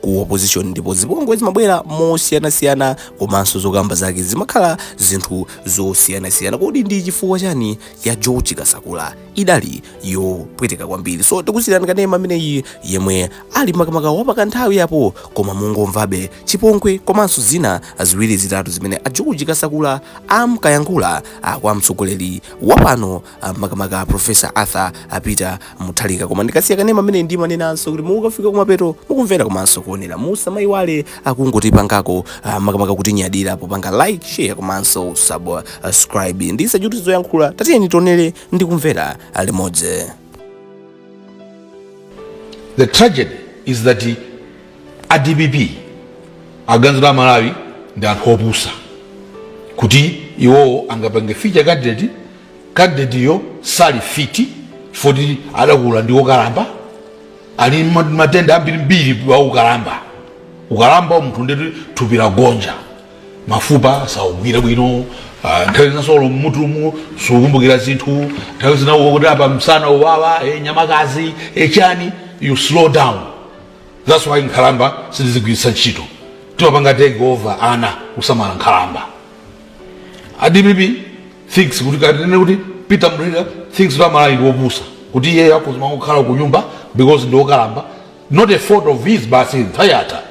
ku opposition ndipo zipongwe zimabwera mosiyanasiyana komanso zokamba zake zimakhala zinthu zosiyanasiyana kodi ndi chifukwa chani ya george kasakula idali yopweteka kwambiri so tikusiyirani kanema ameneyi yemwe ali makamaka wapaka nthawi yapo koma mungomvabe chipongwe komanso zina ziwiri zitatu zimene a george kasakula amkayankhula ah, kwa mtsogoleri wapano ah, makamaka a professor arthur peter mutharika koma ndikasiya kanema ameneyi ndimanenanso kuti mukafika kumapeto mukumvera komanso kuonera musamayiwale kungotipangako ah, makamaka kutinyadira popanga like share komanso subscribe ndisachulutse zoyankhula tatiyeni tionere ndi kumvera ah, limodzi The tragedy is that a DPP aganiza amalawi ndi anthu opusa kuti iwowo angapange feature candidate candidate-yo sali fit poti adakula ndi okalamba ali ma- matenda ambirimbiri a ukalamba ukalamba wa munthu ndiye kuti thupi lagonja mafupa sakugwira bwino ah, nthawi zinanso olo mmutumu sukumbukira zinthu nthawi zina ukuti apa msana ukuwawa eh, nyamakazi eh, chani you slow down that's why nkhalamba sitizigwiritsa ntchito timapanga take over ana kusamala nkhalamba a dpp thinks kuti katinene kuti peter mutharika thinks kuti amalawi ndi wopusa kuti iye akhoza kukhala ku nyumba because ndi wokalamba not a fault of his basi nthawi yatha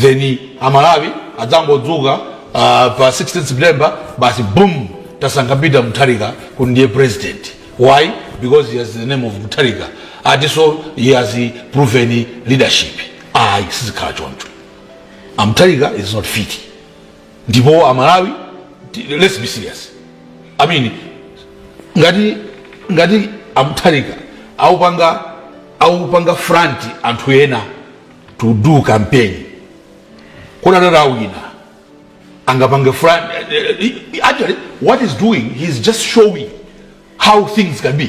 then amalawi adzangodzuka ah, pa 16 september basi boom tasankha peter mutharika kuti ndiye president why because he has the name of mutharika atinso he has proven leadership ayi sizikhala choncho mutharika is not fit ndipo amalawi ti- let's be serious i mean ngati ngati a mutharika akuwapanga akuwapanga front anthu ena to do campaign kodi atati awina angapange chani actually what he is doing he is just showing how things can be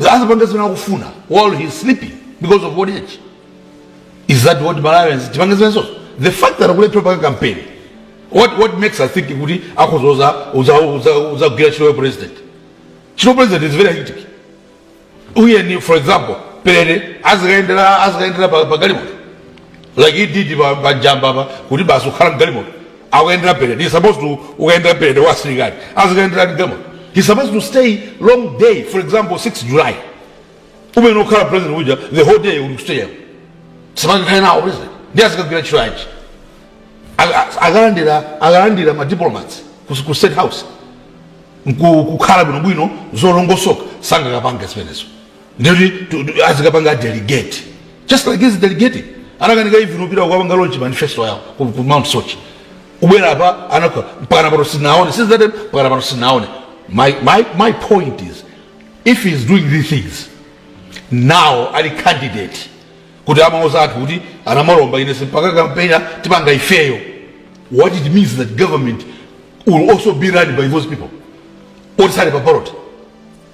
azapange zimene akufuna while he is sleeping because of old age is that what malawians tipange zimenezozo the fact that akulephera kupanga campaign what, what makes us think kuti akhoza kuzagwira ntchito ya president ntchito ya president is very hectic uyeni for example parade azikaendera azikaendera pa pa galimoto like he did pa pa njamba pa kuti basi kukhala mgalimoto akukayendera parade he's supposed to kukayendera parade wa asilikali azikayendera ndi demo he's supposed to stay long day for example 6 july umenkhala president uja the whole day uli ku stadium simakikhale nawo president ndi azikagwira ntchito yanji akalandira akalandira ma diplomats ku ku state house Nku- kukhala bwinobwino zolongosoka sangakapange zimenezo ndikuti tu- tu- azikapanga delegate just like he's delegating anakanika even kupita kukapanga launch manifesto yawo ku ku Mount Soche kubwera apa anakhala mpakana pano sinaone since that time mpakana pano sinaone my, my, my point is if he is doing these things now ali candidate kuti amauza anthu kuti a namalomba ine simpanga kampeni tipanga ifeyo what it means that government will also be run by those people oti sali pa ballot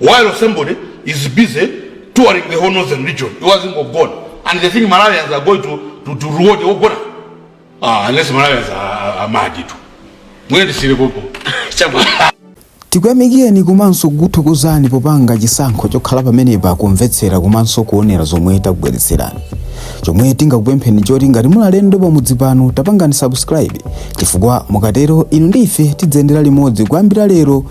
while somebody is busy touring the whole northern region iwo azingogona and they think malawians are going to, to, to reward ogona ah, unless malawians amadi tu mwene tisire popo chabwino tikuyamikireni komanso kukuthokozani popanga chisankho chokhala pamenepa kumvetsera komanso kuonera zomwe takubweretserani chomwe tingakupempheni choti ngati muli alendo pamudzi pano tapangani subscribe chifukwa mukatero inu ndi ife tiziyendera limodzi kuyambira lero